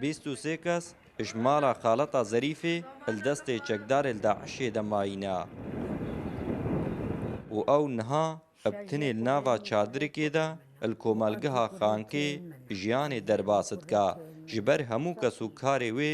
Bîst û sê kes ji mala xaleta Zerîfê li destê çekdarê li DAIŞ'ê de mayîne û ew niha bi tinê li nava çadirikê de li komelgeha Xankê jiyanê derbas dike, ji ber hemû kes û karê wê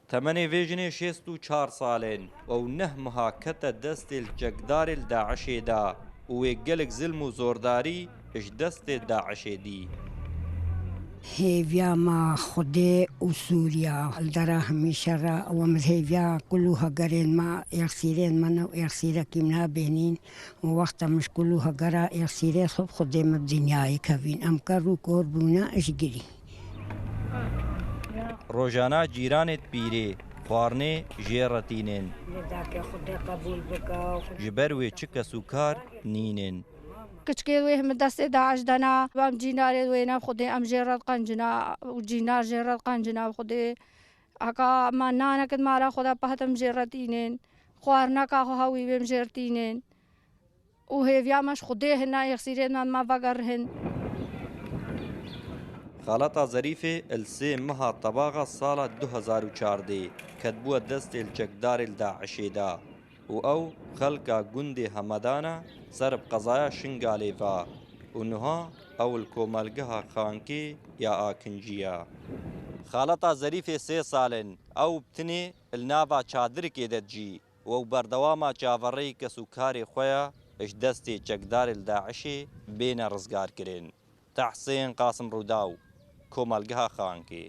Temenê vê jinê şêst û çar sal in û neh meha kete destê li çekdarê li DAIŞ'ê de û wê gelek zilm û zordarî ji destê DAIŞ'ê dî. Hêviya ma Xwedê û Sûriya li dera hemîşe re ew e min hêviya kul û hegerên me yexsîrên me ne û yexsîrekî min e bêhnîn û wexta min ji kul û hegera yexsîrê xwe bi Xwedê me bi dinyayê kevîn em kerr û kor bûne ji girî Rojana cîranê dipîrê, xwarinê jê re tînên. Ji ber wê çi kes û kar nînên. Kiçikê wê min destê DAIŞ dana. Em cînarê wê ne xwedê em jê re diqencina û cînar jê re diqencina bi xwedê. Heka me nanek di mala xwe de pehtin em jê re tînên. Xwarineka xwe hewî bê em jê re tînên. Û hêviya me ji Xwedê hin a yexsîrê nan ma vegerihin. Xalata Zerîfê li sê meha tebaxa sala du hezar û çardê ketbûye destê li çekdarê li DAIŞ'ê de û ew xelka gundê Hemedana ser bi qezaya Şingalê ve û niha ew li komelgeha Xankê ya Akincî ye. Xalata Zerîfê sê sal in ew bi tinê li nava çadirikê de dijî Wew berdewama çavereyî kesûkarê xwe ya ji destê çekdarê li DAIŞ'ê bêne rizgarkirin. Tehsên Qasim Rûdaw, Komelgeha Xankê.